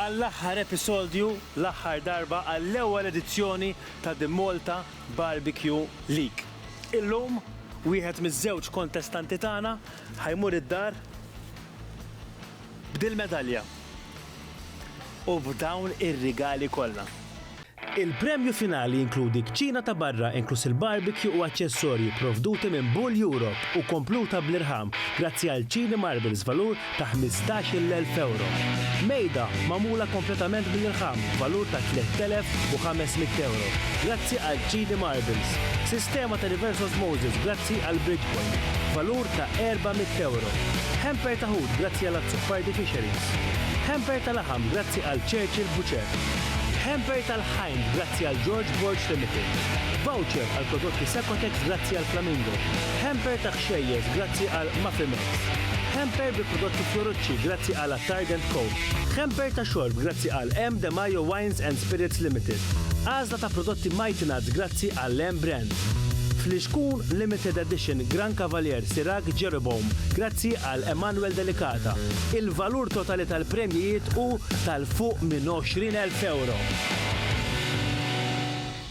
Għall-aħħar episodju, l-aħħar darba għall-ewwel edizzjoni ta' The Malta Barbecue League. Illum, wieħed miż-żewġ kontestanti tagħna ħa jmur id-dar b'dil-medalja u b'dawn ir-rigali kollha. Il-premju finali jinkludi kċina ta' barra inkluż il-barbecue u aċċessorji provduti minn Bull Europe u kompluta bl-irħam grazzi għal Chini Marbles valur ta' ħmistax-il elf ewro. Mejda magħmula kompletament bl-irħam b'valur ta' tlett elef u ħames mitt ewro grazzi għal Chini Marbles. Sistema ta' reverse osmosis grazzi għal Bridgeport b'valur ta' erba' mitt ewro. Hamper ta' ħut grazzi għal Azzopardi Fisheries. Hamper ta' laħam grazzi għal Churchill Butcher. Hamper tal-Hind grazzi għal George Borg Limited. Voucher għal prodotti Secotex grazzi għal Flamingo. Hamper ta' kxejjes grazzi għal Mafimex. Hamper bi prodotti Fiorucci grazzi għal Attard and Co. Hamper ta' xorb grazzi għal M. De Majo Wines and Spirits Limited. Għażla ta' prodotti Mighty Nuts grazzi għal M. Brands. Flixkun Limited Edition Gran Cavalier Sirac Jeroboam grazzi għal Emanuel Delicata. Il-valur totali tal-premjijiet hu ta' fuq minn 20,000 ewro.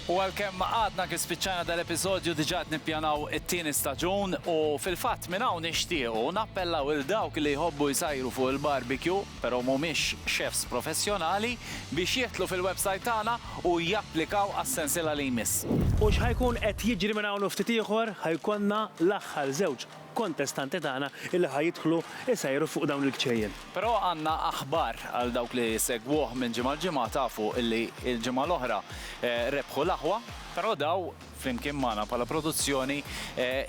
U għalkemm għadna kif spiċċajna dal-episodju diġà qed nippjanaw it-tieni staġun u fil-fatt minn hawn nixtiequ nappellaw lil dawk li jħobbu jsajru fuq il-barbecue però mhumiex chefs professjonali biex jidħlu fil-website tagħna u japplikaw għas-sensiela li jmiss. U x'ħa jkun qed jiġri minn hawn u ftit ieħor? Ħa jkollna l-aħħar żewġ kontestanti tagħna illi ħa jidħlu jsejru fuq dawn il-kċejjen. Però għandna aħbar għal dawk li jsegwuh minn ġimgħa l-ġimgħa tafu illi l-ġimgħa l-oħra rebħu l-aħwa, però daw flimkien magħna bħala produzzjoni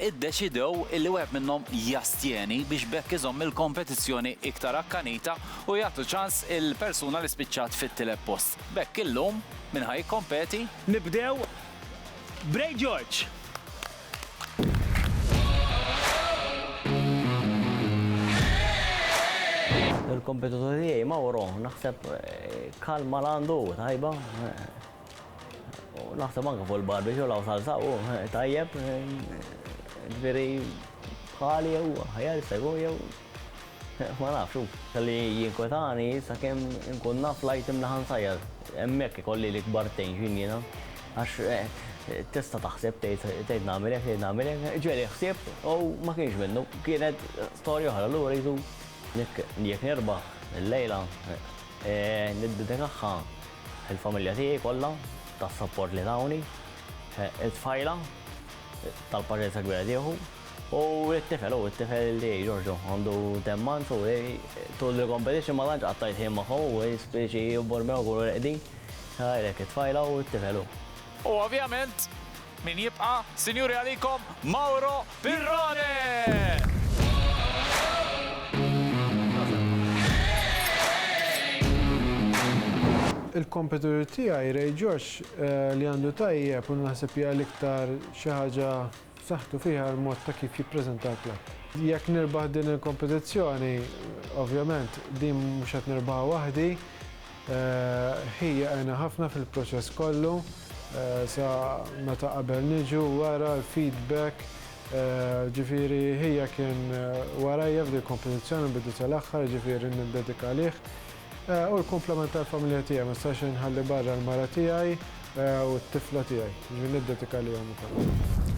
iddeċidew illi wieħed minnhom jastjeni biex b'hekk iżomm il-kompetizzjoni iktar akkanita u jagħtu ċans il-persuna li spiċċat fit-tielet post. B'hekk illum min ħa jikkompeti? Nibdew b'Ray George. Il-kompetitur tiegħi Mauro naħseb kalma l għandu tajba. U naħseb anke fuq il-barbecue law salsa u tajjeb. Ġifieri bħali jew ħajar segu jew Ma nafx, hu kelli jinkwetani sakemm inkun naf l-item li ħa nsajjar. Hemmhekk ikolli l-ikbar tension jiena. Għax tista' taħseb tgħid tgħid nagħmel hekk, tgħid nagħmel hekk. Ġieli ħsibt u ma kienx minnu. Kienet storja oħra li uritu li jekk nirbaħ il-lejla niddedikaha lill-familja tiegħi kollha tas-sapport li tawni, it-tfajla tal-paċenzja kbira tieħu. U t-tifel, u t-tifel li Giorgio għandu temmanz u tul il-competition ma tantx qatta' jitħiem magħhom u jispiċi jibbor miegħu jkunu reqdin. Għalhekk it-tfajla u t-tifel hu. U ovvjament min jibqa', sinjuri għalikom Mauro Pirrone! Il-competitor tiegħi Ray George li għandu tajjeb u naħseb hija l-iktar xi ħaġa b'saħħtu fiha l-mod ta' kif jippreżenta l-klabb. Jekk nirbaħ din il-kompetizzjoni, ovvjament din mhux qed nirbaħha waħdi, ħija għena ħafna fil-proċess kollu, sa meta qabel niġu, wara, l-feedback, ġifieri ħija kien warajja f'dil-kompetizzjoni mill-bidu sal-aħħar, ġifieri niddedika lih. U l-kumplament tal-familja tiegħi, ma nistax inħalli barra l-mara tiegħi u t-tifla tiegħi. Jiġifieri niddedika għalihom ukoll.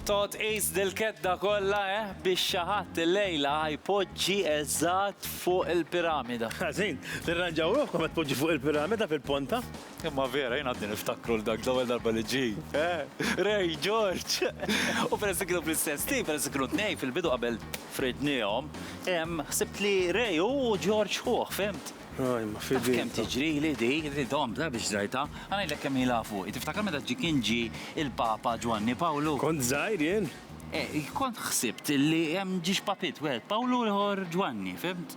Todd tqis dil-kedda kollha, eh, biex xi ħadd illejla ħa jpoġġi eżatt fuq il-piramida. Ħażin, tirranġaw ruħkom ħa tpoġġu fuq il-piramida fil-ponta. Imma vera, jien għadni niftakru l-dak l-ewwel darba li ġi. Eh, Ray, George! U peress kienu fl-istess tim, peress kienu tnej fil-bidu qabel fridnihom, ħsibt li Ray hu George ħuh, fimt? Ray, ma fidilta. Taf kemm tiġrili di, li domt la biex rajtha. Ħa ngħidlek kemm ilha fuqi. Tiftakar meta ġi kien ġi il-Papa Ġwanni Pawlu? Kont żgħir jien. Eh, kont ħsibt li hemm ġiex papiet wieħed Pawlu u l-ieħor Ġwanni, fimt?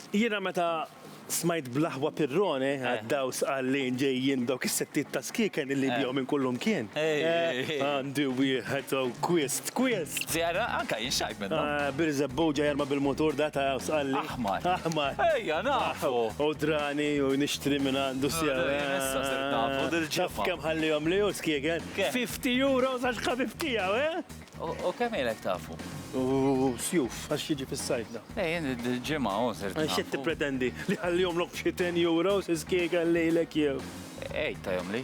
Jiena meta smajt bl-aħwa pirrone għad-daws qal li ġejjin dawk is-settiet ta' skieken illi jbiegħu minn kullimkien. Għandi wieħed hawn kwist, kwist! Zjara, anka jien xtaqt minnhom. Birżebbu ġej jarma bil-mutur da ta' daws qal li. Aħmar. Aħmar. Ejja, nafu! U drani u nixtri minn għandu sew. Jien issa sirt nafu dil-ġimgħa. Taf kemm ħallihom li hu skieken? Kemm? Fifty euros għax ħabib tiegħu, eh? U kemm ilek tafu? U sjuf, għax jiġi fis-sajf da. Ej, il-ġimgħa u ser. Xi tippretendi li ħallihom lok xi 10 euros iskiega lejlek jew? Ej, tajhom li.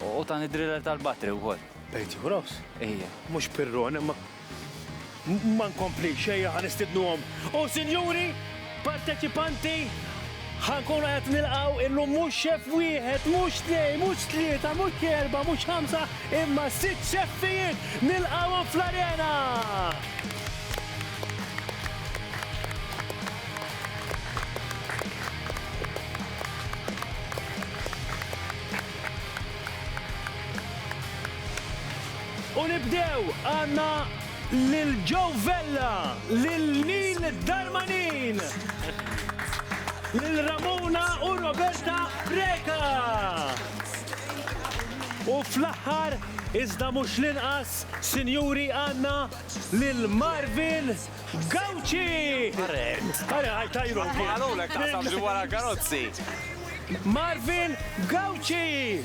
U tan id-driller tal-batri wkoll. Bejt euros? Ejja. Mhux pirron, imma ma nkompli xejja ħanistidnuhom. U sinjuri, Parteċipanti, ħa nkunu qed nilqgħu illum mhux xeff wieħed, mhux tnejn, mhux tlieta, mhux erbgħa, mhux ħamsa, imma sitt xeffijiet nilqgħuhom fl-arena! U nibdew, għandna Lil Joe Vella, lil Neil Darmanin, lil Ramona u Roberta Preca. U fl-aħħar, iżda mhux l-inqas, sinjuri għandna lil Marvin Gauci. Are, are, għaj tajru. Għalu l-ek taqsam ġu wara karozzi. Marvin Gauci.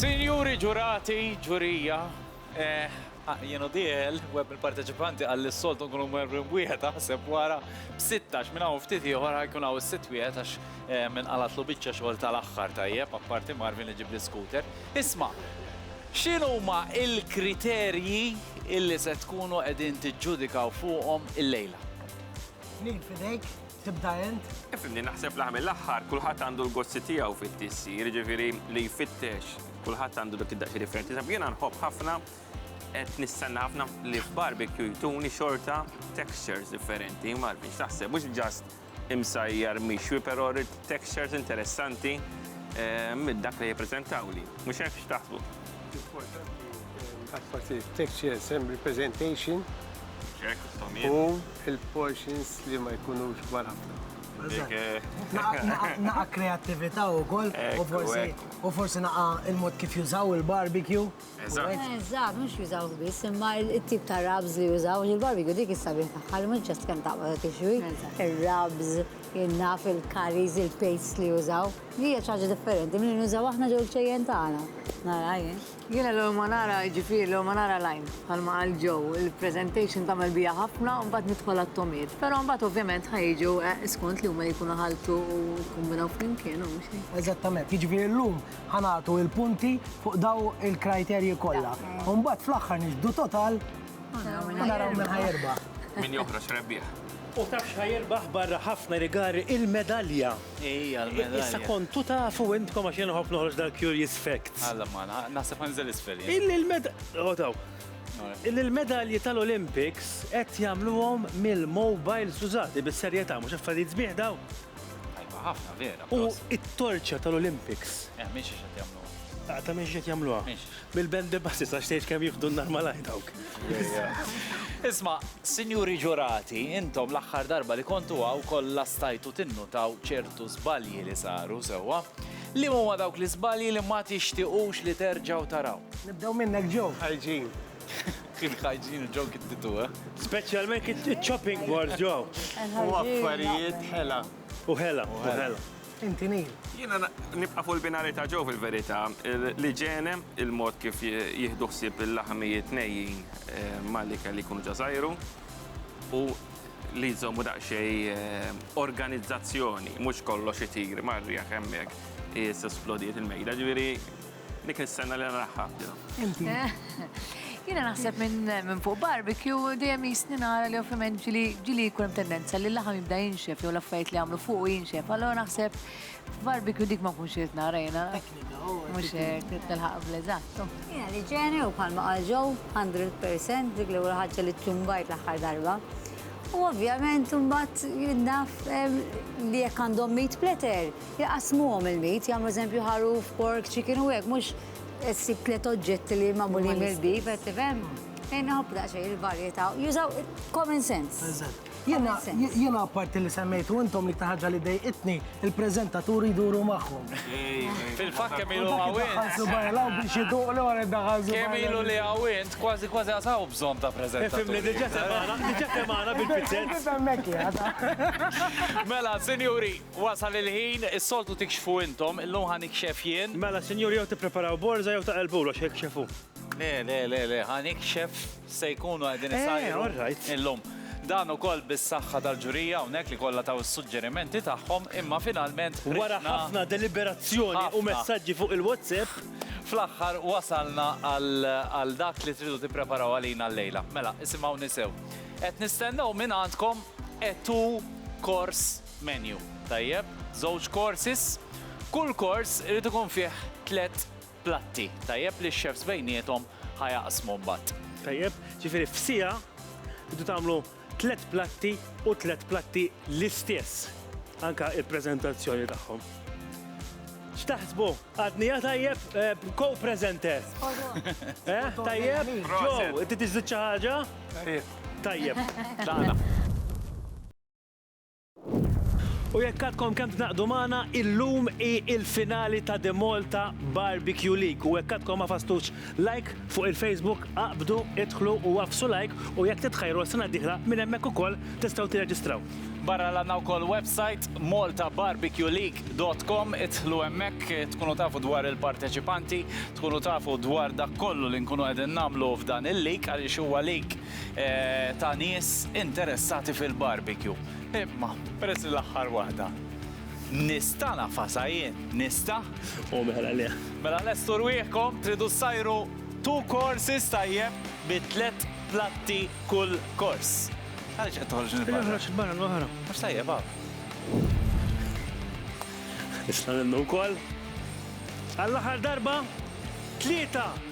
Sinjuri ġurati, ġurija, jien u Diel, web mill-parteċipanti qal li s-soltu nkunu mwerbin b'wieħed aħseb wara b'sittax minn hawn ftit ieħor ħajkun hawn is-sitt wieħed għax inqalgħatlu biċċa xogħol tal-aħħar tajjeb apparti Marvin li ġieb l-iskuter. Isma', x'inhuma l-kriterji li se tkunu qegħdin tiġġudikaw fuqhom illejla? Ħniin f'idejk. Tibda int? Ifimni, naħseb laħ mill-aħħar, kulħadd għandu l-gozzi tiegħu fit-tissi, jiġifieri li jfittex, kulħadd għandu dak id-daqsi differenti. Sab jiena nħobb ħafna qed nistenna ħafna li f'barbecue jtuni xorta textures differenti, ma biex taħseb, mhux ġast imsajjar mixwi, però rrid textures interessanti eh, minn dak li jippreżentaw li. Mhux hekk x'taħsbu? Forsi textures and representation. U Il-portions li ma jkunux kbar ħafna. Naqa' kreattività wkoll u forsi naqa' il-mod kif jużaw il-barbecue. Eżatt. Eżatt, mhux jużawh biss, imma t-tip ta' rubs li jużaw, għax il-barbecue dik is-sabiħ tagħha li mhux just kemm taqbad u tixwi, ir-rubs, naf il-curries, il-pastes li jużaw. Hija xi ħaġa differenti milli nużaw aħna ġol-ġejjen tagħna. Nara jien. Jiena l-ewwel ma nara, jiġifieri l-ewwel ma nara l-għajn, bħalma qal Joe, il-presentation tagħmel bija ħafna u mbagħad nidħol għat-togħmiet. Però mbagħad ovvjament ħa jiġu skont li huma jkunu ħaltu u kkombinaw flimkien u mhux hekk. Eżattament, jiġifieri llum ħa nagħtu l-punti fuq dawn il-kriterji kollha u mbagħad fl-aħħar niġbdu total u naraw min ħa jirbaħ. Min joħroġ rebbieħ. U taf x'ħa jirbaħ barra ħafna rigali? Il-medalja! Ejja, l-medalja. Issa kontu tafu intkom għax jien nħobb noħroġ dal-curious facts. Alla ma, naħseb ħanżel isfel. Il-medalji tal-Olympics qed jagħmluhom mill-mobiles użati bis-serjetà mhux affarijiet sbieħ daw. Tajba ħafna vera. U t-torċa tal-Olympics. Eh, mhix qed jagħmluha. Ta' mhix qed jagħmluha. Mhix. Mill-band the buses, għax tgħidx kemm jieħdu n-nar malajr dawk. Isma, Sinjuri Ġurati, intom l-aħħar darba li kontu hawn kollha stajtu tinnutaw ċertu żbalji li saru, sewwa? Liema huma dawk l-iżbalji li ma tixtiequx li terġgħu taraw? Nibdew minnek Joe. Hygiene. Il-hygiene u Joe kittitu, eh? Speċjalment it-chopping boards, Joe. U affarijiet ħela. U ħela, u ħela. Inti nil. Jiena nibqa' fuq il-binari ta' ġew fil-verità. Li ġene il-mod kif jieħdu ħsieb il-laħamijiet nejjin eh, mal-ikel li jkunu ġażajru u li jżommu daqsxej eh, organizzazzjoni, mhux kollox itir marri hemmhekk is-esplodiet il-mejda, ġifieri Dik is-sena li naraħħa. Inti. Jiena naħseb minn fuq barbecue dejjem jisni nara li ovvjament ġili ġili jkun tendenza li l-laħam jibda jinxef jew l-affarijiet li għamlu fuq jinxef. Allora naħseb barbecue dik ma kunx irid nara jiena. Mhux hekk tilħaq bl-eżatt. Jiena li ġeni u bħalma qal ġew 100% dik l-ewwel ħaġa li ċċumbajt l-aħħar darba. U ovvjament imbagħad jinnaf li jekk għandhom meat platter Jaqsmuhom il-bid, jagħmlu eżempju ħaruf, pork, chicken u hekk, mhux ssib tliet oġġetti li magħmulin mill-bid, qed tifhem? Ejn nħobb daqsxejn il-varjetà, jużaw common sense. Eżatt. Jiena jiena apparti li semmejtu intom li iktar ħaġa li dejqitni, il-preżentaturi jduru magħhom. Fil-fatt kemm ilu hawn int. Daħħal subgħi hawn biex iduq li wara daħħal subgħi. Kemm ilu li hawn int, kważi kważi għad hawn bżonn ta' preżentaturi. Ifhimni, diġà semgħana, diġà semgħana bil-pizzett. Mela, sinjuri, Wasal il-ħin, is-soltu tikxfu intom, illum ħa nikxef jien. Mela, sinjuri, jew tippreparaw borża jew taqelbu l-għoxxa jikxefu. Le, le, le, le, ħa nikxef x'se jkunu qegħdin isajru illum. Dan ukoll bis-saħħa tal-ġurija hawnhekk li kollha taw is-suġġerimenti tagħhom, imma finalment ħriġna. Wara ħafna deliberazzjoni u messaġġi fuq il-WhatsApp. Fl-aħħar wasalna għal dak li tridu tippreparaw għalina llejla. Mela, isimgħuni sew. Qed nistennew mingħandkom Etu Kors Menu, Tajjeb, żewġ courses, kull kors irid ikun fih tliet platti, tajjeb, li x-chefs bejniethom ħa jaqsmu mbagħad. Tajjeb, ġifieri f'siegħa tridu tagħmlu tliet platti u tliet platti l-istess, anke l-preżentazzjoni tagħhom. X'taħsbu? Għadni ja tajjeb, co-presenter? Eħ, tajjeb? Joe, inti tiżżid xi ħaġa? Tajjeb. Tlaqna. U jekk għadkom kemm tnaqdu magħna, illum hi l-finali ta' The Malta Barbecue League. U jekk għadkom ma fastux like fuq il-Facebook, aqbdu, idħlu u għafsu like u jekk titħajru għas-sena d-dieħla minn hemmhekk ukoll tistgħu tirreġistraw. Barra l-għandna wkoll website maltabarbecueleague.com idħlu hemmhekk tkunu tafu dwar il-parteċipanti, tkunu tafu dwar dak kollu li nkunu qegħdin nagħmlu f'dan il-league għaliex huwa league ta' nies interessati fil-barbecue. Imma, peress li l-aħħar waħda nista' nafasha jien, nista'? U mela le. Mela lestu rwieħkom, tridu ssajru two courses tajjeb bi tliet platti kull kors. Għaliex qed toħroġ il-barra? Qed noħroġ il-barra l-oħra. Mhux tajjeb hawn. Nista' nennu wkoll? Għall-aħħar darba, tlieta!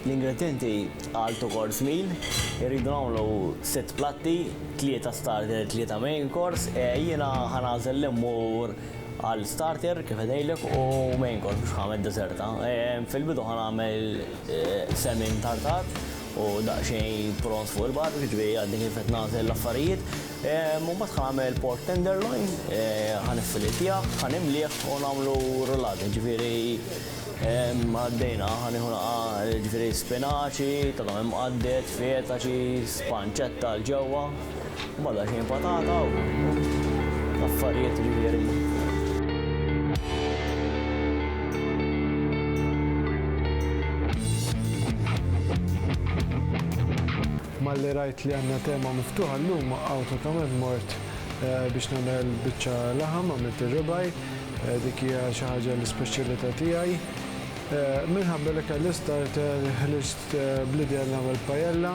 L-ingredienti għal to course meal irridu nagħmlu sitt platti, tlieta starter, tlieta main course, e, jiena ħanażel li mmur għal starter kif edejlek u main course biex ħamed deserta. E, fil-bidu ħanagħmel e, semin tartar u daqsxejn pront fuq il-bar, jiġifieri għadni kif qed nagħżel l-affarijiet. Ehm, u mbagħad ħa nagħmel pork tenderloin, eh, ħa niffilitjah, ħa nimlieh u nagħmlu rullata, jiġifieri ehm, għaddejna, ħa nieħu naqa' jiġifieri spinaċi, tagħhom imqaddet, fetaċi, spanċetta l ġewwa. Bada xejn patata u affarijiet ġifieri. malli rajt li għanna tema miftuħa l-lum għaw ta' tamed mort eh, biex namel bieċa laħam għamilt il-ribaj eh, dik hija xi ħaġa l-ispeċjalità tiegħi. Eh, minħabba li kelli starter ħliġt bl-idea nagħmel pajella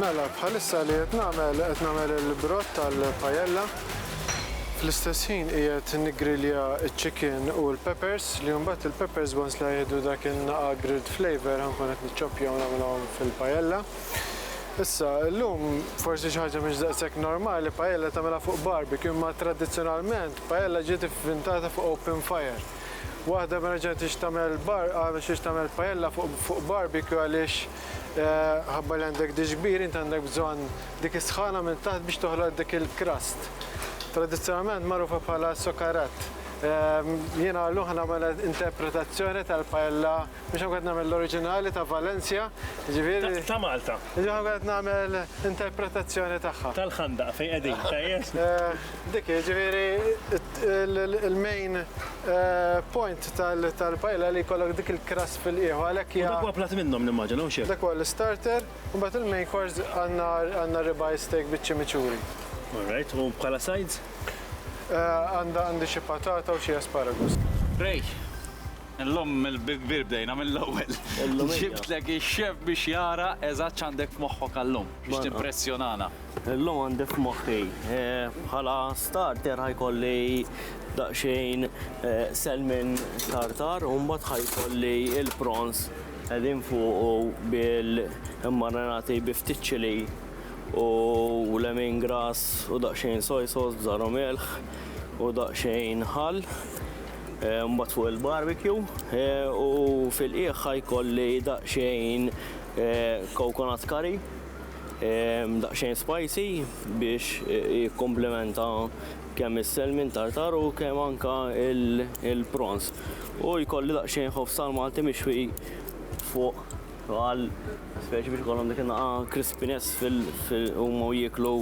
Mela, bħalissa li qed nagħmel, qed nagħmel il-brott tal-pajella. Fl-istess ħin qiegħed niggrilja ċ-chicken u l-peppers li mbagħad il-peppers once li ħajieħdu dak in-naqa' grilled flavour ħankun qed niċċoppjahom nagħmilhom fil-pajella. Issa, illum forsi xi ħaġa mhix daqshekk normali pajella tagħmilha fuq barbecue imma tradizzjonalment pajella ġiet ivvintata fuq open fire. Waħda ma reġgħetx tagħmel bar, għamel xiex tagħmel pajella fuq fuq barbecue għaliex Ħabba li għandek diġbir, int għandek bżonn dik is-sħana minn taħt biex toħloq dik il-crust. Tradizzjonalment magħrufa bħala sokarat. Jiena llum ħa nagħmel interpretazzjoni tal-paella biex ħankun nagħmel l-oriġinali ta' Valencia, ġifieri. Ta' Malta. Ġifieri ħankun nagħmel interpretazzjoni tagħha. Tal-Ħandaq fejn qegħdin, tajjeb? Dik hi, ġifieri il-main point tal-paella li jkollok dik il-crust. ġust fil-qiegħ u għalhekk hija. U dak huwa platt minnhom nimmaġina, hawn x'hemm? Dak huwa l-istarter, imbagħad il-main course għandna għandna ribeye steak biċ-chimichurri. All right, u bħala sides? Għandha għandi xi patata u xi asparagus. Ray, illum bi kbir bdejna mill-ewwel. Illum hija. Ġibtlek ix-chef biex jara eżatt x'għandek f'moħħok għal-lum biex timpressjonana. Illum għandi f'moħħi bħala starter ħajkolli daqsxejn selmin tartar u mbagħad ħajkolli il-prawns qegħdin fuqu bil-marinati bi ftit ċili u lemin grass u daqsxejn soy sauce bżar u milħ u daqsxejn ħall mbagħad fuq il-barbecue u fil-qiegħ ħajkolli daqsxejn coconut curry daqsxejn spicy biex jikkomplementa kemm is-selmin tartar u kemm anka il-prawns. U jkolli daqsxejn ħofs tal-Malti mixwi fuq għal speċi biex ikollhom dik naqa crispiness fil-huma u jieklu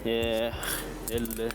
eh,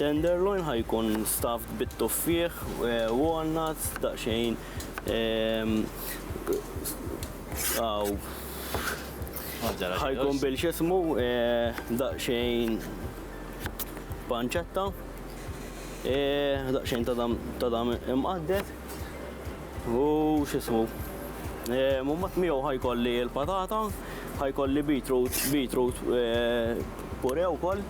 Tenderloin ħa jkun stuffed bit-tuffieħ, walnuts, daqsxejn ħa jkun bil x'ismu daqsxejn pancetta, daqsxejn ta' dam imqadded u x'ismu. Mbagħad miegħu ħa jkolli l-patata, ħa jkolli beetroot, beetroot puree wkoll.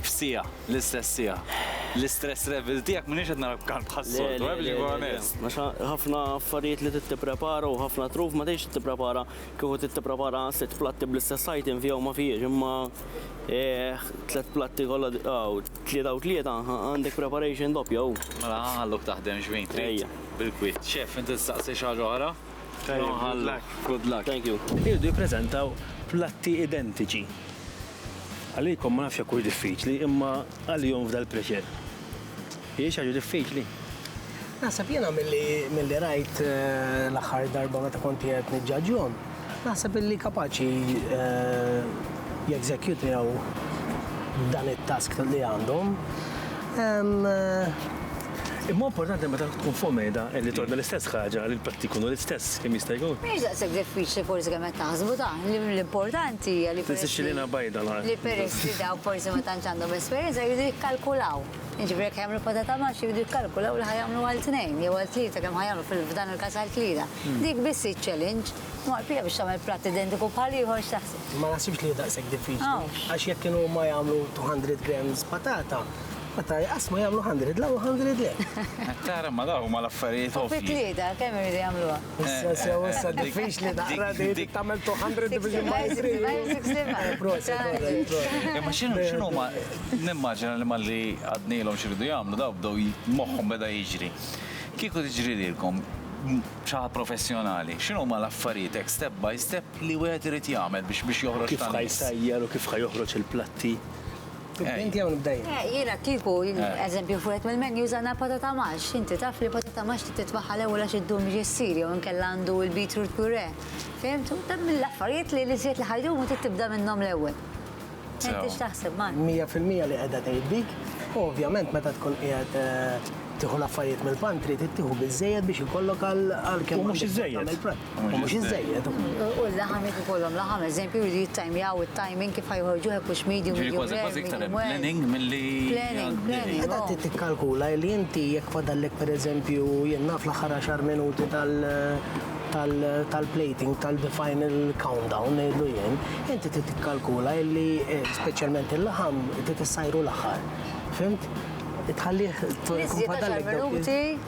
F'siegħa, l-istess siegħa. L-istress level tiegħek m'iniex qed nara b'kant bħas-soltu, eh, biex inkun onest. Għax ħafna affarijiet li trid tipprepara u ħafna truf ma tridx tipprepara kieku trid tipprepara sitt platti bl-istess item fija u ma fihiex, imma tliet platti kollha hawn tlieta u tlieta għandek preparation doppja hu. Mela ħa nħalluk taħdem xbin trid. Bil-kwiet. Chef, inti tistaqsi xi ħaġa oħra? Jew nħallu. Good luck. Thank you. Iriedu jippreżentaw platti identiċi. Għalikom ma nafx jekk hux diffiċli, imma għalihom fdal pressure. Hi xi ħaġa diffiċli? Naħseb jiena milli milli rajt l-aħħar darba meta kont qiegħed niġġaġġhom, naħseb illi kapaċi jeżekjutjaw dan it-task li għandhom. Imma huwa importanti li meta tkun fuq mejda li tordna l-istess ħaġa li l-platti jkunu l-istess kemm jista' jkun. Mhijiex daqshekk diffiċli forsi kemm qed taħsbu dan. L-importanti hija li peress li. Tisixxilina bajda l-art. Li peress li dawk forsi ma tantx għandhom esperjenza jridu jikkalkulaw. Jiġifieri jekk ħa jagħmlu patata mash jridu jikkalkulaw li ħa jagħmlu għal tnejn jew għal tlieta kemm ħa jagħmlu f'dan il-każ għal tlieta. Dik biss hi ċ-challenge. Imma l-pija biex tagħmel platt identiku bħal ieħor x'taħseb? Ma naħsibx li hi daqshekk diffiċli. Għax jekk kienu huma jagħmlu 200 grams patata, Meta jqassmu jagħmlu 100 le u 100 le. Tara ma dawn huma l-affarijiet ovvji. U fi tlieta kemm iridu jagħmluha? Issa sew issa diffiċli naqra li trid tagħmel 200 division by 3. By 65. Proset, proset, proset. Imma x'inhu ma nimmaġina li malli għadnilhom x'iridu jagħmlu dawn bdew moħħhom beda jiġri. Kieku tiġri lilkom xi ħaġa professjonali, x'inhu ma l-affarijiet hekk step by step li wieħed irid jagħmel biex biex joħroġ tan-nies? Kif ħa jsajjar u kif ħa joħroġ il-platti Inti jew nibdej. Eh, jiena kieku, eh. eżempju, fuqet mill-menu żana patata max, inti taf li patata max li titbaħħa l-ewwel għax iddum ġessir jew inkella għandu il-beetroot pure. Fehmt? U dan mill-affarijiet li li żied li ħajdum u tibda minnhom l-ewwel. Inti x'taħseb ma? 100% li qiegħda tgħid dik, u ovvjament meta tkun qiegħed eh, tieħu l-affarijiet mill-pantri, tittieħu biżejjed biex ikollok għal kemm. Mhux iżejjed. U mhux iżżejjed. U l-laħam jekk ikollhom laħam, eżempju, jridu jittajmjaw it-timing kif ħajħorġu hekk hux medium. Ġifieri kważi kważi iktar hemm planning milli. Planning, planning. Meta trid tikkalkula li inti jekk fadallek pereżempju jien naf l-aħħar għaxar minuti tal tal-plating tal-final countdown ngħidlu jien, inti trid tikkalkula li speċjalment il-laħam trid issajru l-aħħar. Fhimt? Tħallih tkun fadallek. Iżjed għaxar minuti.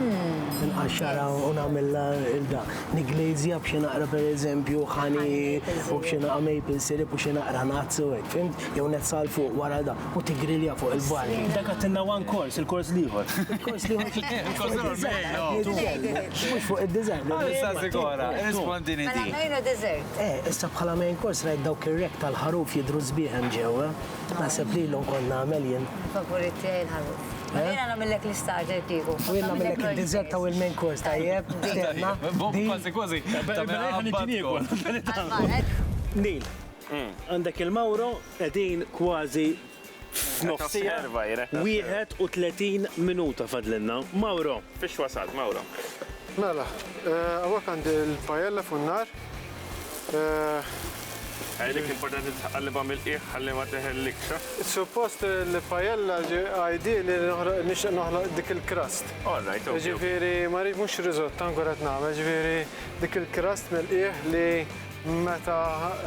nqaxxarha u nagħmilha ilda. Niglazja b'xi naqra pereżempju ħani u b'xi naqra maple syrup u xi naqra nuts u hekk, fimt? Jew net sal fuq wara da u tigrilja fuq il-bar. Dak għatilna one course, il-kors l-ieħor. Il-kors l-ieħor. Mhux fuq id-dessert. Issa sigora, irrispondini di. Mela main u dessert. Eh, issa bħala main course rajt dawk ir-rek tal-ħaruf jidhru sbieħ hemm ġewwa. Naħseb li ilhom kont nagħmel jien. Favorit tiegħi l-ħaruf. Mela jiena nagħmillek l-istarter kieku. U jiena nagħmillek id-dessert u l-main course tajjeb. Tistenna. Kważi kważi. Neil, għandek il-Mauro qegħdin kważi f'nofsija. 31 minuta fadlilna. Mauro. Fiex wasalt, Mauro? Mela, hawnhekk għandi l-paella fuq in-nar. Għalik importanti tqallibha mill-qiegħ ħalli ma teħellikx, ha? Suppost li pajella għajdi li nixtieq noħloq dik il-crust. All right, ok. Ġifieri ma rrid mhux risott ankor qed nagħmel, ġifieri dik il-crust mill-qiegħ li meta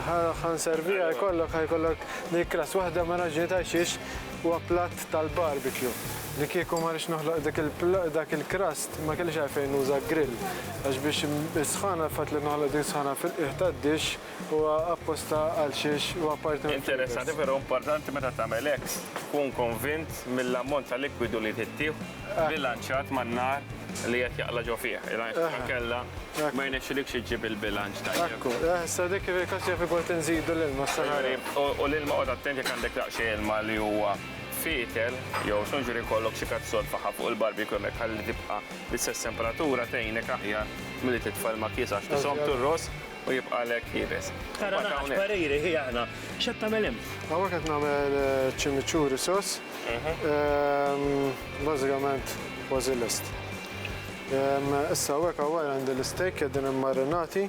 ħa nserviha jkollok ħa jkollok din il-crust. Waħda mir-raġunijiet għal xiex huwa platt tal-barbecue. Li kieku ma rridx noħloq dik dak il-crust, Ma kellix għalfejn nuża grill, għax biex is-sħana, il-fatt li noħloq din is-sħana fil-qiegħ tad-dixx huwa apposta għal xiex huwa parti mill-flavors. Interessanti, però importanti meta tagħmel hekk tkun konvint mill-ammont ta' likwidu li tittieħu bbilanċjat man-nar li qed jaqla' ġo fih, għax inkella ma jirnexxilikx iġġib il-bilanċ tajjeb. Ekku, eh, issa dik fil-każ jaf ikolli nżidu l-ilma s-sena. U l-ilma qgħod attent jekk għandek daqsxejn ilma li huwa. Fietel jew songeri jkollok xi kazzol faħam fuq il-barbecue hemmhekk ħalli tibqa' l-istess temperatura tgħinek aħjar milli titfa' l-makkies għax tiżomm tir-ross u jibqagħlek ħieles. Tara nagħaġ pariri hi aħna. X'qed tagħmel hemm? Hawnhekk qed nagħmel chimichurri sauce. Bażikament kważi lest. Issa hawnhekk hawn wara għandi l-isteak qegħdin immarinati.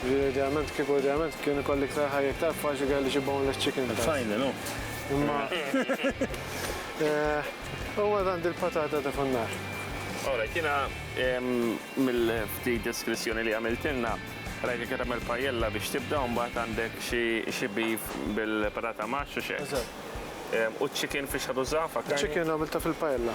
Jiġifieri idealment, kieku idealment kien ikolli iktar ħajja iktar faċli kelli xi boneless chicken thighs. F'fajn hu. Imma u mbagħad għandi l-patata ta' fuq in-nar. All right, jiena mill-ftit deskrizzjoni li għamiltilna rajtek qed tagħmel paella biex tibda u mbagħad għandek xi beef bil-patata mash u xi eggs. Eżatt. U ċ-chicken fiex ħa tuża, fakkarni? Iċ-chicken għamiltha fil-paella.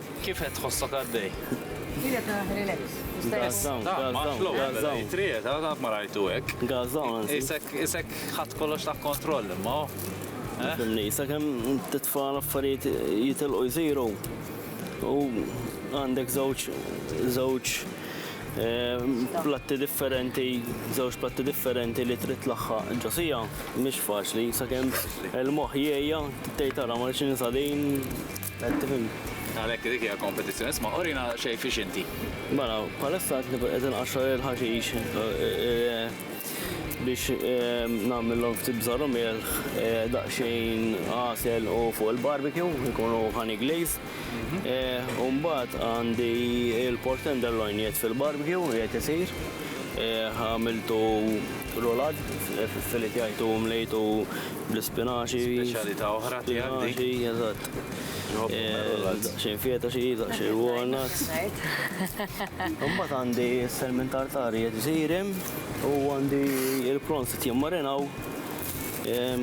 Kif qed tħossok għaddej? Qiegħed relax. Stess. Għażawn. Trijet, għad ma rajtu hekk. Għażawn. Isek isek ħadd kollox ta' kontroll imma. Fimni, eh? sakemm titfal affarijiet jitilqu jsiru u għandek żewġ żewġ eh, platti differenti, żewġ platti differenti li trid laħħa ġosija, mhix faċli, sakemm il-moħħ jgħejja tgħid tara ma nix Għalhekk dik hija l-kompetizzjoni. Isma' urina xejn fiex inti. Mela, bħalissa qed nikun qed inqaxxar il-ħaxix biex nagħmilhom ftit bżar u milħ, daqsxejn għasel u fuq il-barbecue jkunu honey glaze. U mbagħad għandi l-pork tenderloin qiegħed fil-barbecue qiegħed isir. Għamiltu rulad, filitjajtu, mlejtu Bl-ispinaċi. Speċjalità oħra tiegħek dik. Spinaċi, eżatt. Xejn fieta xi, xejn walnuts. Imbagħad għandi s-selmin tartari qed isirim u għandi il-prawns qed jimmarinaw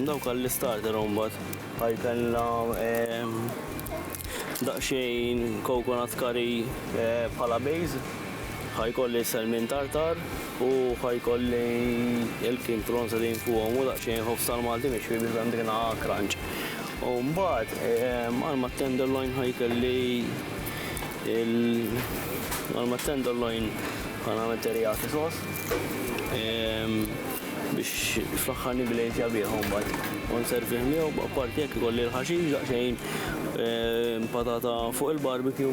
dawk għall-istarter imbagħad. Bħal kellna daqsxejn coconut curry bħala base. Ħa jkolli sell minn tartar u ħa jkolli il-King Prawns qegħdin fuqhom u daqsxejn ħobż tal-Malti mixwi biex hemm dik naqa' crunch. U mbagħad għal ma tenderloin ħa jkolli il għal ma tenderloin ħa nagħmel teriyaki sos biex fl-aħħar niglejzja bih mbagħad u nservih miegħu b'apparti jekk ikolli l-ħaxix daqsxejn patata fuq il-barbecue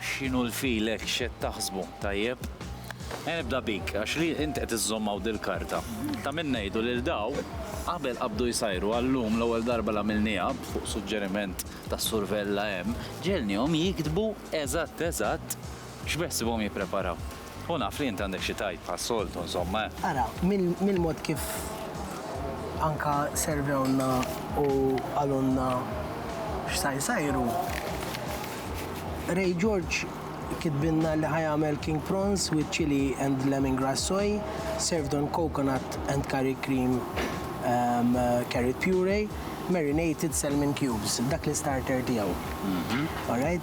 X'inhu l-feel hekk x'qed taħsbu? Tajjeb. Ejja nibda bik, għax li int qed iżżomm hawn dil-karta. Ta' min ngħidu lil daw, qabel qabdu jsajru għal llum l-ewwel darba li għamilniha, fuq suġġeriment tas-Sur Vella hemm, ġegħelnihom jiktbu eżatt eżatt x'beħsibhom jippreparaw. U naf li int għandek xi tgħid bħas-soltu, insomma, eh. Ara, mill-mod kif anka servewlna u qalulna x'sa jsajru, Ray George kitbilna li ħa jagħmel king prawns with chili and lemongrass soy, served on coconut and curry cream carrot puree, marinated salmon cubes. Dak l-istarter tiegħu. All right?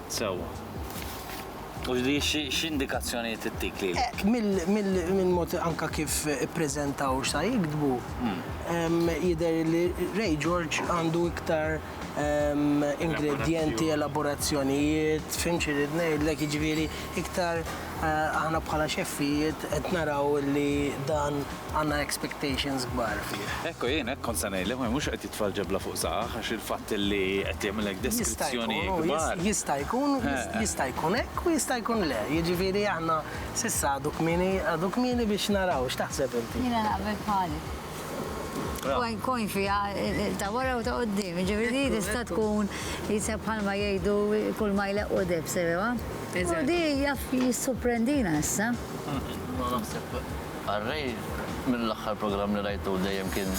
Sewwa. U x'di x'indikazzjonijiet ittik lili? Eh, mill-mod anke kif ippreżentaw x'sa jiktbu, jidher li Ray George għandu iktar ingredjenti, elaborazzjonijiet, fhimt xi rrid ngħidlek, jiġifieri iktar Eh, aħna bħala xeffijiet qed naraw li dan għandna expectations kbar fih. Ekku jien hekk kont se ngħidlek ma mhux qed jitfal ġebla fuq saqaħ għax il-fatt li qed jagħmilek deskrizzjoni kbar. Jista' jkun, eh, eh. jista' jkun hekk u jista' jkun le. Jiġifieri aħna s'issa għadu kmieni għadu kmieni biex naraw x'taħseb inti. Jiena naqbel bħalik. Coin fiha ta' wara u ta' qudiem, jiġifieri di tista' tkun jisha bħalma jgħidu kull ma jleqqu deheb sewewa. U di jaf jissuprendina issa. Ma naħseb Array mill-aħħar programm li rajtu dejjem kien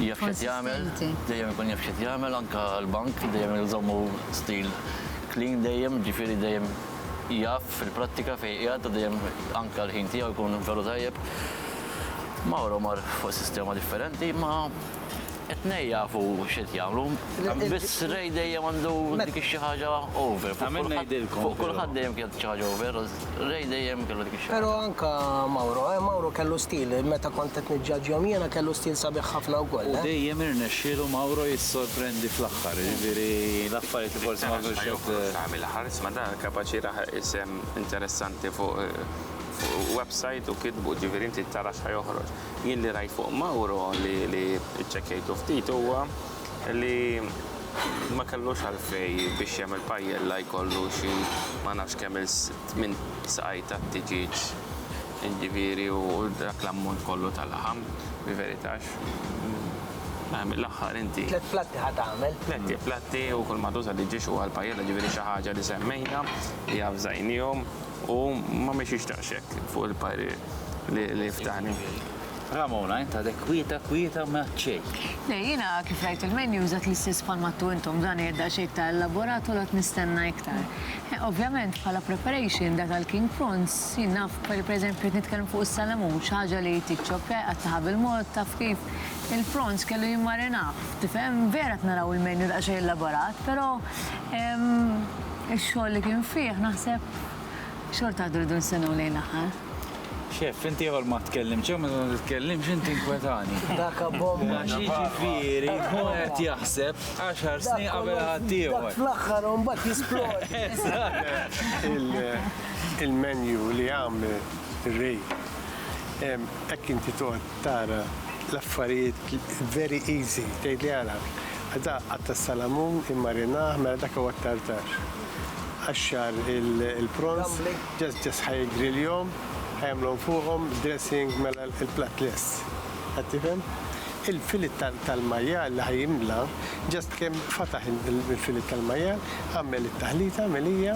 jaf x'qed jagħmel, dejjem ikun jaf x'qed jagħmel anke l-bank dejjem iżommu stil clean dejjem, jiġifieri dejjem jaf fil-prattika fejn qiegħed u dejjem anke l-ħin tiegħu jkun veru tajjeb. Mauro mar fuq sistema differenti, ma it-nej jafu xed jagħmlu. Biss rej dejjem għandu dik xi ħaġa over. Għamil ngħidilkom. Fuq kulħadd dejjem kienet xi ħaġa over, rej dejjem kellu dik xi Però anka Mauro, eh, Mauro kellu stil, meta kont qed niġġaġġjahom jiena kellu stil sabiħ ħafna wkoll. Eh. Dejjem irnexxielu Mauro jissorprendi fl-aħħar, jiġifieri l-affarijiet li forsi ma kienux qed. Tagħmel ħares ma dan kapaċi raħaq isem interessanti fuq eh, website u kitbu, ġifieri inti tara x'ħa joħroġ. Jien li rajt fuq Mauro li li ċċekkejtu ftit huwa li ma kellux għalfej biex jagħmel pajjella jkollu xi ma nafx kemm il minn saqaj tat-tiġieġ ġifieri u dak l-ammont kollu ta' laħam bi veritax Mela mill-aħħar inti. Tliet platti ħa tagħmel. Tliet platti u kull ma tuża tiġiex huwa l-pajjella ġifieri xi ħaġa li semmejna li avżajnihom U ma mexiex daqshekk fuq il-parir li ftahni. Ramona, int għadek kwieta, kwieta ma ċej. Le, jina kif rajt il-menu użat l-istess bħal mattu intom, dan jgħid daqxej ta' elaborat u lot nistenna iktar. Eh, ovvjament, bħala preparation, da tal-king prawns, jien naf, per eżempju, nitkellem fuq is-salamun, xaġa li tiċċob eh, għattaħa bil-mod, taf kif, il-prawns kellu jimmarinaf, tifhem, vera t-naraw il-menu daqxej elaborat, pero Ix-xogħol li kien fih naħseb xorta waħda rridu nistennew lejn l-aħħar. Xef, inti ieħor ma tkellimx, jew meta ma titkellimx inti nkwetani. Dak abbom. Għax jiġifieri hu qed jaħseb għaxar snin qabel ħadd ieħor. Dak fl-aħħar u mbagħad jisplodi. Eżatt. Il-menu li għamel Ray, hekk inti toqgħod Tara l-affarijiet very easy, tgħidli ara, dak qatt' tas-salamun immarinah, mela dak huwa t-tartar. Qaxxar il-prawns, just ħa jiggriljhom, ħa jagħmlhom fuqhom dressing, mela l-platt lest. Qed tifhem? Il-filet tal-majjal li ħa jimla, just kemm fataħ il-filet tal-majjal, għamel it-taħlita, milija,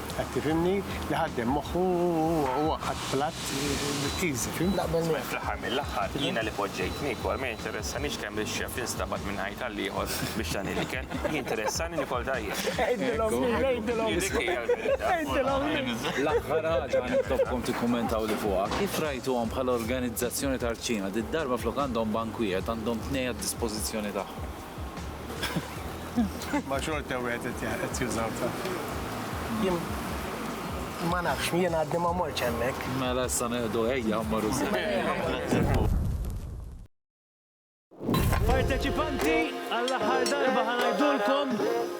Qed tifhimni? Li ħaddem moħħu u għaqqad platt easy, fhimt? Naqbel miegħek. Fl-aħħar mill-aħħar, jiena li poġġejt niekol, ma jinteressanix kemm ix-xef instabad minn ħajt għal ieħor biex tani l-ikel, jinteressani nikol tajjeb. Għidilhom lili, għidilhom. Hi dik hi l-verità. Għidilhom lili. L-aħħar ħaġa nitlobkom tikkummentawli fuqha, kif rajtuhom bħala organizzazzjoni ta' rċina, did-darba flok għandhom bank wieħed għandhom tnej għad-dispożizzjoni tagħhom? Ma xorta wieħed qed jużaw ta. Jien ma nafx, jien għaddi ma morċ hemmhekk. Mela issa neħdu ejja mmorru sew. Parteċipanti għall-aħħar darba ħanajdulkom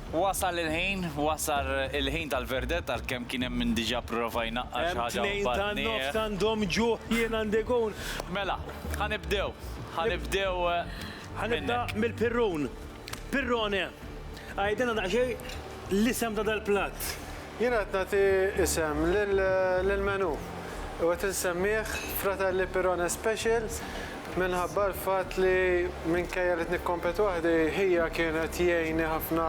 Wasal il-ħin, wasal il-ħin tal-verdett għalkemm kien hemm min diġà pprova jnaqqar xi ħaġa u mbagħad nieqaf. Hemm tnejn tan-nofs għandhom ġuħ jien għandi gun. Mela, ħa nibdew, ħa nibdew minnek. Ħa nibda mill-pirrun. Pirrone, għidilna daqsxejn l-isem ta' dal-platt. Jien qed nagħti isem lill-menù u qed insemmih Fratelli Pirone Special minħabba l-fatt li minkejja li qed nikkompet waħdi, ħija kienet jgħinni ħafna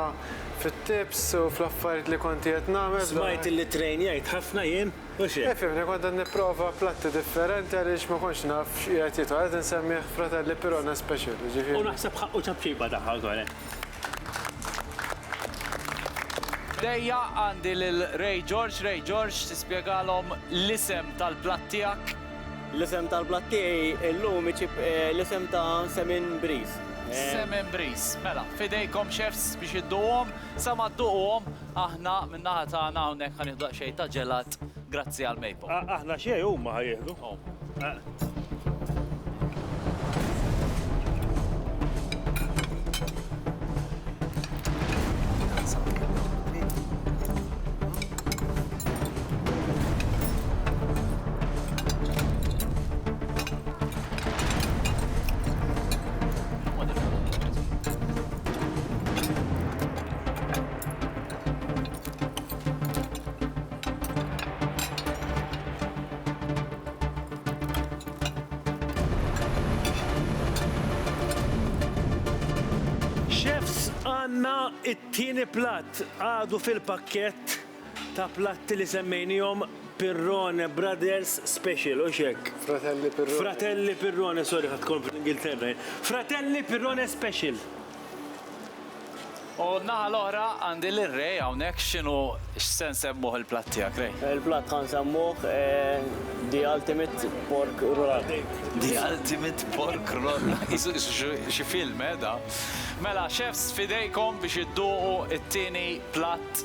fit-tips u fl-affarijiet li konti qed nagħmel. Smajt li ttrejnjajt ħafna jien u xi. Ifhimni, kont qed nipprova platti differenti għaliex ma kontx naf x'qiegħed jidħol. Qed insemmih Fratelli Pirone Special, jiġifieri. U naħseb ħaqqu ċapċipa tagħha wkoll. Dejja għandi lil Ray George, Ray George tispjegalhom l-isem tal-platt tiegħek. L-isem tal-platt tiegħi illum iġib eh, l-isem ta' Semin Briż. Eh, Semin Briż. Mela, fidejkom chefs biex idduhom, sa ma dduquhom aħna min-naħa tagħna hawnhekk ħanieħdu daqsxejn ta' ġelat Grazzi għal Mapom. Aħna xejn huma ħa jieħdu. Chefs għandna t-tieni platt għadu fil-pakkett ta' platti li semmejniehom Pirrone Brothers Special, hux hekk? Fratelli Pirrone. Fratelli Pirrone, sorry ħadt kont fl-Ingilterra jien. Fratelli Pirrone Special. U n-naħa l-oħra għandi lir-Re hawnhekk x'inhu x'se nsemmuh il-platt tiegħek Re? Il-platt ħa nsemmuh The Ultimate Pork Roll. The Ultimate Pork Roll. Qisu xi film, eh, da. Mela, chefs f'idejkom biex idduqu t-tieni platt.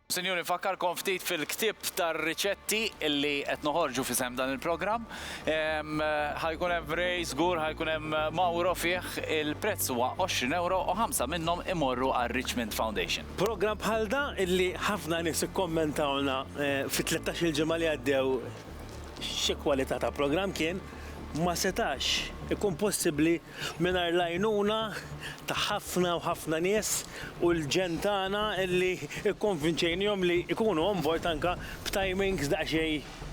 Sinjuri, nfakkarkom ftit fil-ktieb tar-riċetti li qed noħorġu f'isem dan il-programm. Ħa jkun hemm Ray, żgur ħa jkun hemm Mauro fih. Il-prezz huwa għoxrin ewro u ħamsa minnhom imorru għar-Richmond Foundation. Programm bħal da li ħafna nies ikkommentawlna fit-tlettax-il ġimgħa li għaddew xi kwalità ta' programm kien, ma setax ikun possibbli Mingħajr l-għajnuna ta' ħafna u ħafna nies u l-ġenn tagħna li kkonvinċejnihom li jkunu on board anke b'timings daqsxejn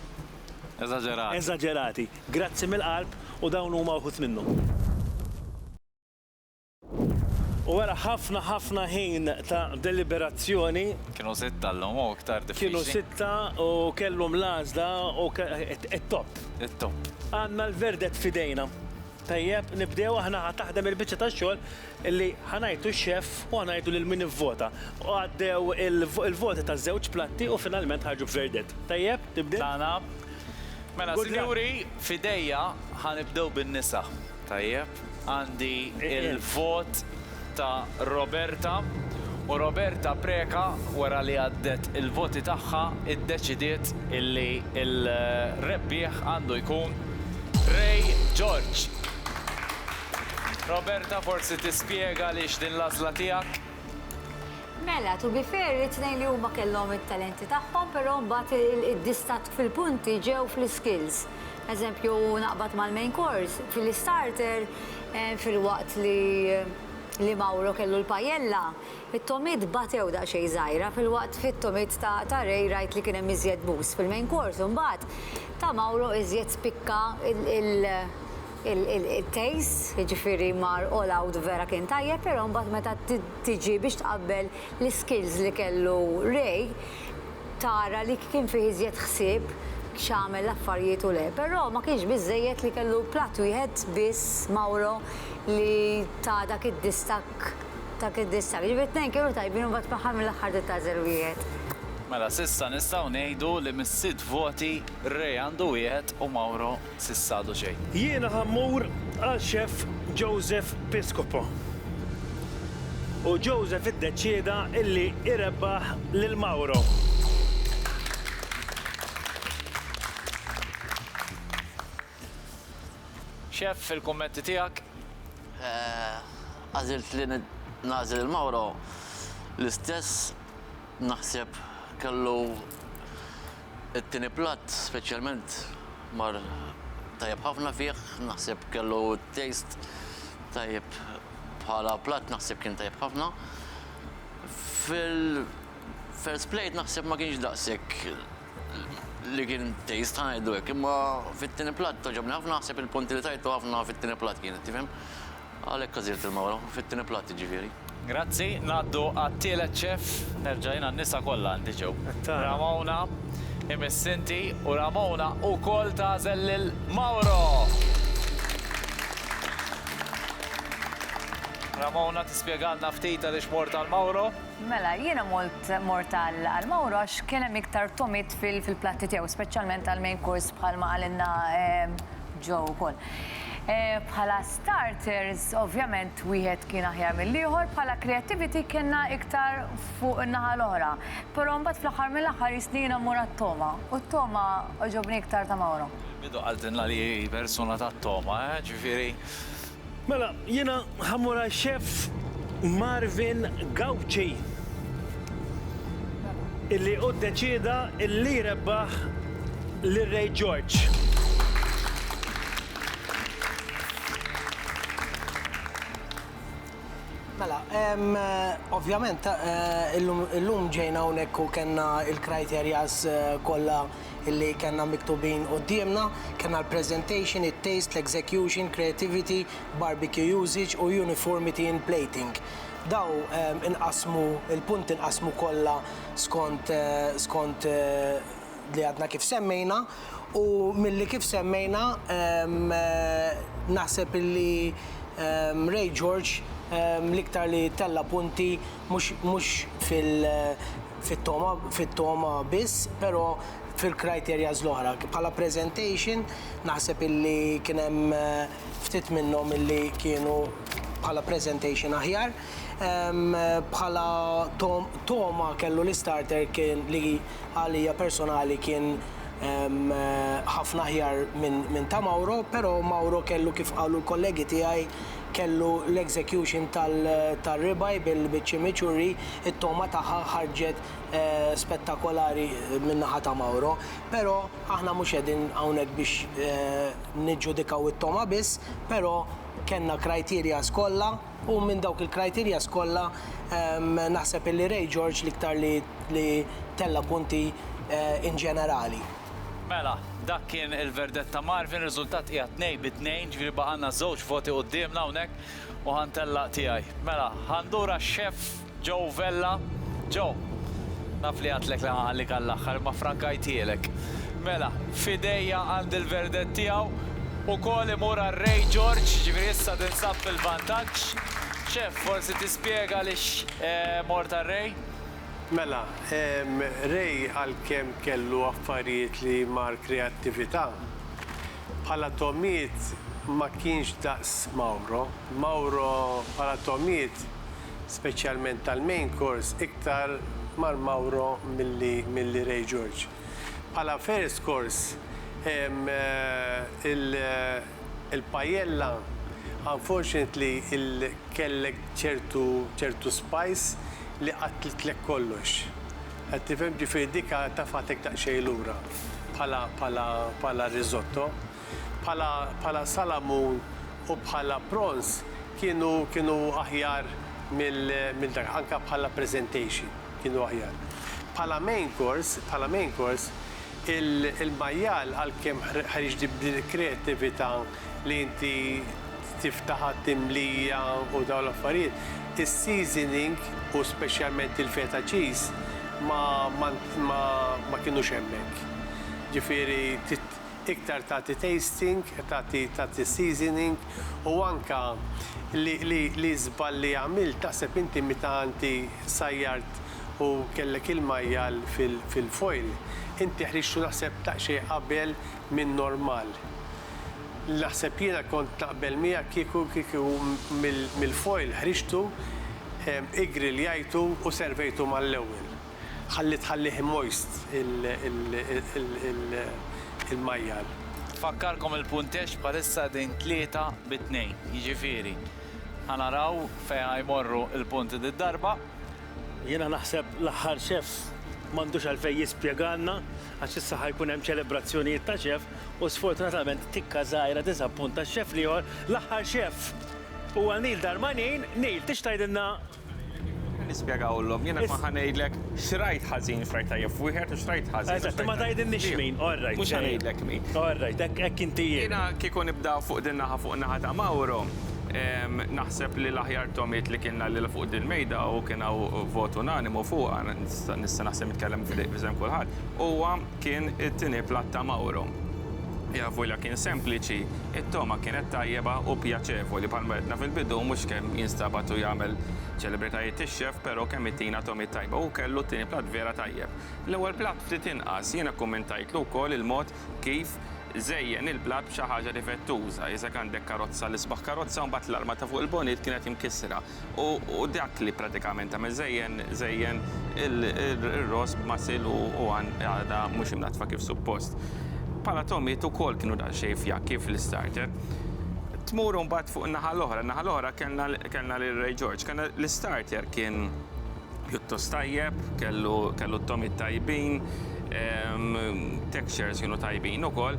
eżaġerati. Eżaġerati. Grazzi mill-qalb u dawn huma wħud minnhom. U wara ħafna ħafna ħin ta' deliberazzjoni. Kienu sitta llum u iktar diffiċli. Kienu sitta u kellhom l-għażla u it-topp. It-topp. Għandna l-verdett f'idejna. Tajjeb, nibdew aħna ħa taħdem il-biċċa tax-xogħol li ħa ngħidu x-xeff u ħa ngħidu lil min ivvota. U għaddew il-voti taż-żewġ platti u finalment ħarġu b'verdett. Tajjeb, tibdil? Tagħna. Mela, sinjuri, f'idejja ħa nibdew bin-nisa. Tajjeb, għandi l-vot. ta' Roberta u Roberta Preca wara li għaddet il-voti tagħha iddeċidiet illi l-rebbieħ għandu jkun Ray George. Roberta forsi tispjega għaliex din l-għażla tiegħek? Mela, to be fair, it-tnejn li huma kellhom it-talenti tagħhom però mbagħad id-distakk fil-punti ġew fl-iskills. Eżempju, naqbad mal-main course, fil-istarter Filwaqt li li Mauro kellu l-pajella, it-tomiet batew daqsxejn żgħira filwaqt fit-tomiet ta' ta' Ray rajt li kien hemm iżjed boost fil-main course u mbagħad ta' Mauro iżjed spikka il taste jiġifieri mar all out vera kien tajjeb però mbagħad meta tiġi biex tqabbel l-iskills li kellu Ray biex tara li kien fih iżjed ħsieb x'għamel l-affarijiet u le. Però ma kienx biżżejjed li kellu platt wieħed biss Mauro li ta dak id-distakk dak id-distakk. Ġifieri t-tnejn kienu tajbin u mbagħad fl-aħħar mill-aħħar ġiet ta' żero wieħed. Mela s'issa nistgħu ngħidu li mis-sitt voti Re għandu wieħed u Mauro s'issa għadu xejn. Jiena ħa mmur għal Xeff Joseph Piscopo u Joseph iddeċieda illi irebbaħ lil Mauro. Xeff, il-kummenti tiegħek? Għażilt li nagħżel lil Mauro l-istess naħseb kellu It-tieni platt speċjalment mar tajjeb ħafna fih, naħseb kellu taste tajjeb bħala platt naħseb kien tajjeb ħafna. Fil-first plate naħseb ma kienx daqshekk li kien taste ħa ngħidu hekk, imma fit-tieni platt għoġobni ħafna naħseb il-punti li tajtu ħafna fit-tieni platt kienet tifhem. Għalhekk għażilt il-mawra, fit-tieni platt jiġifieri. Grazzi, ngħaddu għat-tielet ċef. Nerġa' jien għan-nisa kollha għandi ġew. Ramona, imiss inti, u Ramona wkoll tagħżel lil Mauro! Ramona, tispjegalna ftit għaliex mort għal Mauro? Mela, jiena mort mort għal għal Mauro għax kien hemm iktar tomit fil fil-platti tiegħu, speċjalment għall-main course bħalma qalilna ehm, Joe wkoll. Eh, Bħala Starters, ovvjament wieħed kien aħjar mill-ieħor, bħala creativity kellna iktar fuq in-naħa l-oħra. Però mbagħad fl-aħħar mill-aħħar jistni jiena mmur għat-togħma, u t-togħma għoġobni iktar ta' Mauro. Fil-bidu qaltilna li hi persuna tat-togħma, eh, ġifieri. Mela, jiena ħa mmur għal Chef Marvin Gauci, illi hu ddeċieda li jrebbaħ lil Ray George. Mela, ovvjament, eh, illum ġejna hawnhekk u kellna il-kriterjas eh, kollha illi kellna miktubin qudiemna, kellna l-presentation, it-taste, l-execution, creativity, barbecue usage u uniformity in plating. Daw inqasmu, il-punt inqasmu kollha skont eh, skont li għadna kif semmejna u milli kif semmejna naħseb illi Ray George l-iktar li tella' punti mhux fit-togħma biss, però fil-criteria l-oħra. Bħala presentation naħseb illi kien hemm ftit minnhom illi kienu bħala presentation aħjar. Bħala togħma kellu li starter kien li għalija personali kien ħafna aħjar minn ta' Mauro, però Mauro kellu kif qalu l-kollegi tiegħi kellu l-execution tar-ribeye bil-chimichurri, it-togħma tagħha ħarġet spettakolari min-naħa ta' Mauro. Però aħna mhux qegħdin hawnhekk biex niġġudikaw it-togħma biss, però kellna criteria kollha, U minn dawk il-criterias kollha naħseb illi Ray George l-iktar li tella' punti eh, in ġenerali. Mela, dak kien il-verdett ta' Marvin, riżultat hija tnej bi tnejn, ġifieri baqa' għandna żewġ voti quddiemna hawnhekk u ħantellaq tiegħi. Mela, ħandura x-xef Joe Vella, Joe, naf li għadtlek li nħallik għall-aħħar imma ffrankajthielek. Mela, f'idejja għandi l-verdett tiegħu, ukoll imur għar-Ray George, jiġifieri issa tinsab fil-vantaġġ. Chef, forsi tispjega għaliex mort għar-Ray? Mela, Ray għalkemm kellu affarijiet li mar kreattività, bħala togħmiet ma kienx daqs Mauro. Mauro bħala togħmiet speċjalment tal-main course iktar Mar Mauro milli milli Ray George. Bħala first course ehm il il paella unfortunately il kellek ċertu ċertu spice li qattltlek kollox. Qed tifhem? Ġifieri dik tafgħatek daqsxejn lura bħala bħala bħala risotto. bħala bħala salamun u bħala prons kienu kienu aħjar mill mill dak anka bħala presentation kienu aħjar. Bħala main course bħala main course il il-majjal għalkemm ħriġ li b'din il-kreattività li inti tiftaħha timlija u dawn l-affarijiet is-seasoning u speċjalment il-feta cheese ma ma ma ma kienux hemmhekk. Ġifieri iktar tagħti tasting, tagħti tagħti seasoning u anke li li li żball li għamilt taħseb inti meta inti sajjart u kellek il-majjal fil fil-foil inti ħriġtu naħseb daqsxejn qabel minn normal. Naħseb jiena kont naqbel miegħek kieku kieku mill mill-foil ħriġtu, iggrilljajtu u servejtu mal-ewwel. Ħalli tħallih immoist il-majjal. Tfakkarkom il-punteġġ bħalissa qegħdin tlieta bi tnejn, jiġifieri ħa naraw fejn ħa jmorru l-punti did-darba. Jiena naħseb l-aħħar chef m'għandux għalfejn jispjegalna għax issa ħa jkun hemm ċelebrazzjonijiet ta' chef u sfortunatament tikka żgħira tiżappunta x-chef l-ieħor, l-aħħar chef huwa Neil Darmanin. Neil, tix tgħidilna Nispjegawlhom, jien hekk ma ħa ngħidlek x'rajt ħażin, x'rajt tajjeb f'wieħed u x'rajt ħażin. Eżatt, ma tgħidilniex min, all right. Mhux ħa ngħidlek min. All right, hekk inti jien. Jiena kieku nibda fuq din naħa, fuq naħa ta' Mawro, naħseb li l-aħjar Tom jgħid li kien għalilha fuq dil-mejda u kien hawn vot unanimu fuqha, nista' naħseb nitkellem f'sehem kulħadd, huwa, Kien it-tieni platt ta' Mauro. L-avwila kien sempliċi, it-togħma kienet tajjeba u pjaċevoli. Bħalma għedna fil-bidu, mhux kemm jinstabad u jagħmel ċelebritajiet ix-xef, però kemm itina togħmiet tajba. Hu kellu t-tieni platt vera tajjeb. L-ewwel platt ftit inqas. Jiena kkummentajtlu wkoll il-mod kif żejjen il-platt b'xi ħaġa divettuża. Iżak għandek karozza, l-isbaħ karozza u mbagħad l-arma ta' fuq il-bonit kienet imkissra. u dak li pratikament għamel żejjen żejjen ir-ross b'masil u għadha mhux imnaddfa kif suppost. Bħala togħmiet ukoll kienu daqsxejn fjakki fl-istarter. Tmur mbagħad fuq in-naħa l-oħra, in-naħa l-oħra kellna lil Ray George. Kellna l-istarter kien pjuttost tajjeb, kellu t-togħmiet tajbin, textures kienu tajbin ukoll.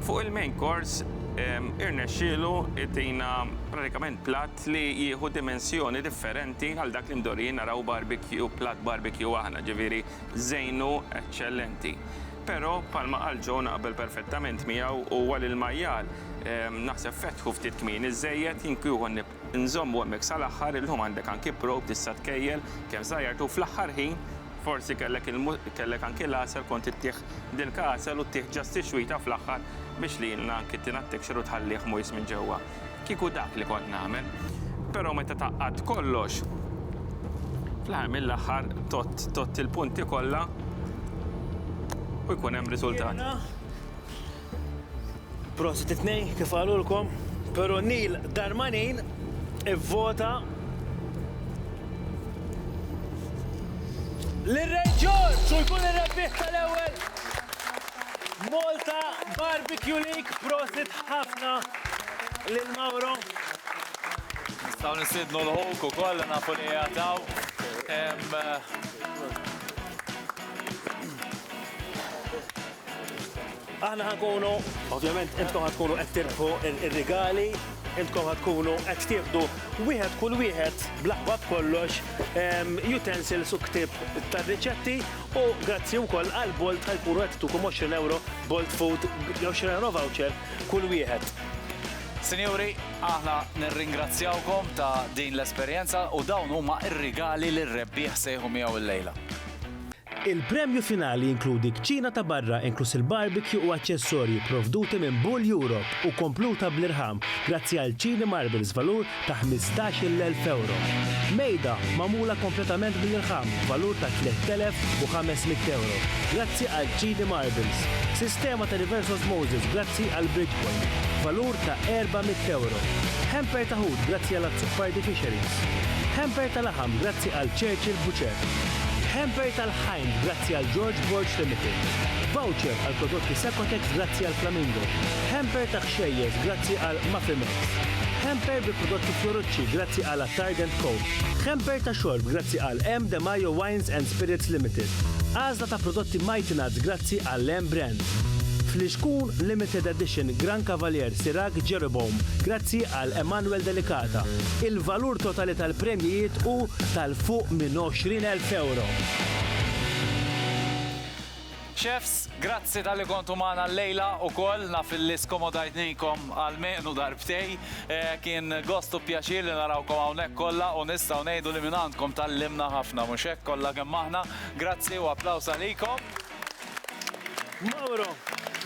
Fuq il-main course irnexxielu jtina pratikament platt. fatt li jieħu dimensjoni differenti għal dak li mdorrijin naraw barbecue, platt barbecue aħna, ġifieri żejnu eċċellenti. Però, bħalma qal Joe naqbel perfettament miegħu, huwa li l-majjal naħseb fetħu ftit kmieni żżejjed, jien kieku nżommu hemmhekk sal-aħħar, illum għandek anki probe tista' tkejjel kemm żgħajjartu u fl-aħħar ħin forsi kellek kellek anki l-għasel kont ittih dilka għasel u ttih ġast tixwita fl-aħħar biex lilna anki tina t-texture u tħallih moist minn ġewwa. Kieku dak li kont nagħmel. Però meta tgħaqqadt kollox, fl-aħħar mill-aħħar tott tott il-punti kollha u jkun hemm riżultat. Prosit it-tnejn kif qalulkom, però Neil Darmanin ivvota lil Ray George u jkun ir-rebbieħ tal-ewwel Malta Barbecue League, prosit ħafna lil Mauro. Nistaw nisidnu l-ħuk u koll nafu li jgħataw. Aħna ħankunu, ovvjament, intkom ħatkunu qed tirbħu ir-rigali, intkom ħatkunu qed tieħdu wieħed kull wieħed bl-aħbab kollox ehm, utensils u ktib tar-riċetti U grazzi wkoll għal Bolt għal puru qed itukom 20 ewro Bolt Food, 20 ewro voucher kull wieħed. Sinjuri, aħna nirringrazzjawkom ta' din l-esperjenza u dawn huma r-rigali li r-rebbieħ sejħu miegħu illejla. Il-premju finali jinkludi kċina ta' barra inkluż il-barbecue u aċċessorji pprovduti minn Bull Europe u kompluta bl-irħam grazzi għal Chini Marbles valur ta' ħmistax-il elf ewro. Mejda magħmula kompletament mill-irħam b'valur ta' tliet elef u ħames mitt ewro grazzi għal Chidi Marbles. Sistema ta' reverse osmosis grazzi għal Bridgepoint b'valur ta' erba' mitt ewro. Hamper ta' ħut grazzi għal Azzopardi Fisheries. Hamper ta' laħam grazzi għal Churchill Butcher. Hamper ta' l-ħajn grazzi għal George Borg Limited. Voucher għal prodotti Secotex grazzi għal Flamingo. Hamper ta' Xejjeż grazzi għal Mafimix. Hemper bi prodotti Fiorucci grazzi għal Attard and Co. Hemper ta' xorb grazzi għal M. De Majo Wines and Spirits Limited. Għażla ta' prodotti Mighty Nuts grazzi għal M. Brands. Flixkun Limited Edition Gran Cavalier Sirag Jeroboam grazzi għal Emanuel Delicata. Il-valur totali tal-premjijiet hu tal-fuq minn 20,000 ewro. Chefs, grazzi talli kontu magħna llejla ukoll, naf illi skomodajtnikom almenu darbtej. Kien gost u pjaċir li narawkom hawnhekk kollha u nistgħu ngħidu li mingħandkom tgħallimna ħafna, mhux hekk, kollha kemm aħna. Grazzi u applaws għalikom. Mauro,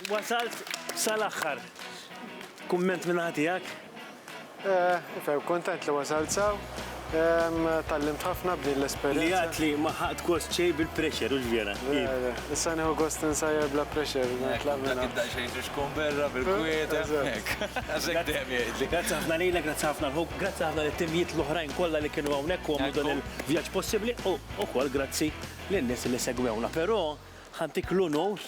wasalt sal-aħħar. Kumment minn naħa tiegħek? Ferm kuntent li wasalt sew. Tgħallimt ħafna b'din l-esperjenza. Li għad li ma ħaqt gost xejn bil-pressure, hux vera? Le, le. Issa nieħu gost insajjar bla pressure. Nitlaq minn hawn. Dak id-daqsxejn xi xkun berra bil-kwiet hemmhekk. Għax hekk dejjem jgħidli. Grazzi ħafna lilek, grazzi ħafna lħu, grazzi ħafna lit-timjiet l-oħrajn kollha li kienu hawnhekk u għamlu dan il-vjaġġ possibbli u wkoll grazzi lin-nies li segwewna. Però, Ħantik l-unur.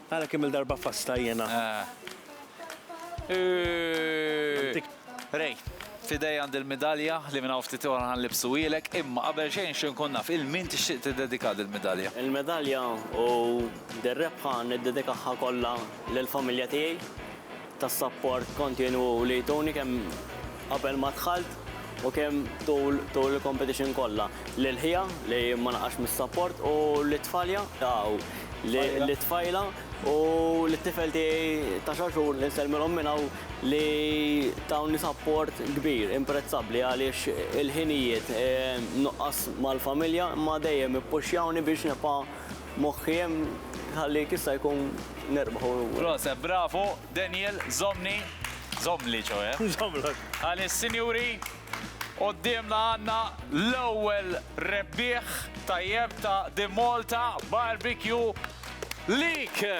Ara kemm il-darba fasta jiena. Ray, f'idej għandi l-midalja li minn hawn ftit ieħor ħanlibsuhielek, imma qabel xejn nixtieq inkun naf il min tixtieq tiddedika dil-midalja? Il-medalja u dir-rebħa niddedikaha kollha lill-familja tiegħi. tas-sapport kontinwu li jtuni kemm qabel ma dħalt u kemm tul tul il-competition kollha. Lil ħija li ma naqax mis-sapport u lit-tfalja u lit-tfajla u lit-tifel tiegħi ta' xahar xhur li nsellmilhom minn hawn li tawni sapport kbir, imprezzabbli għaliex il-ħinijiet nuqqas mal-familja imma dejjem ippuxxjawni biex nibqa' Moħħi hemm ħallik issa jkun nerbaħ u. Proset, bravu, Daniel, żommni, żommli ċoe. Żommlok. Għaliex sinjuri, quddiemna għandna l-ewwel rebbieħ tajjeb ta' The Malta Barbecue League!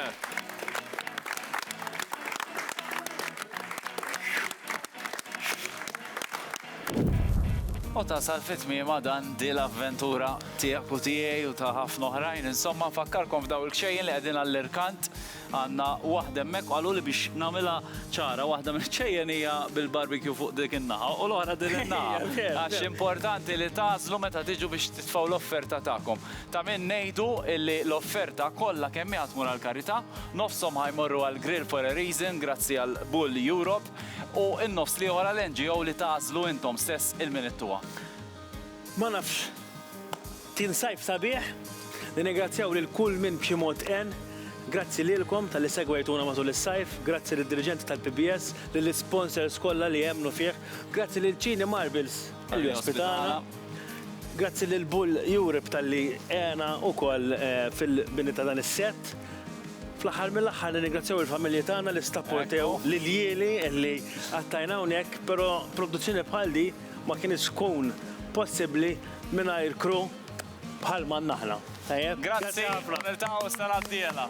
U tasal fi tmiemha dan, di l-avventura tiegħek u tiegħi u ta' ħafna oħrajn. Insomma, nfakkarkom f'daw il-kxejjen li qegħdin għall-irkant. Għandna waħda hemmhekk u qaluli biex nagħmilha ċara, waħda mill-kxejjen hija bil-barbecue fuq dik in-naħa u l-oħra din in-naħa. Għax importanti li tagħżlu meta tiġu biex titfgħu l-offerta tagħkom. Ta' min ngħidu li l-offerta kollha kemm hi ħa tmur għall-karità, nofshom ħa jmorru għall-Grill for a Reason grazzi għal Bull Europe. u n-nofs l-ieħor għal NGO li tagħżlu intom stess il-minittuha. Ma nafx. Kien sajf sabiħ. Ningrazzjaw lil kull min b'xi mod għen. Grazzi lilkom tal-li segwejtuna matul is-sajf, grazzi lid dirigenti tal-PBS, lil sponsors kollha li emmnu fih, grazzi lil Ċini Marbles li ospitana, grazzi lil Bull Europe tal-li għena wkoll eh, fil-bini ta' dan is-set. Fl-aħħar mill-aħħar nirringrazzjaw il-familji tagħna li stapportew lil jieli li qattajna hawnhekk, però produzzjoni bħal di ma kinitx tkun possibbli mingħajr crew bħal ma għandna aħna. Tajjeb? Grazzi ħafna. Grazzi, niltaqgħu s-sena d-dieħla.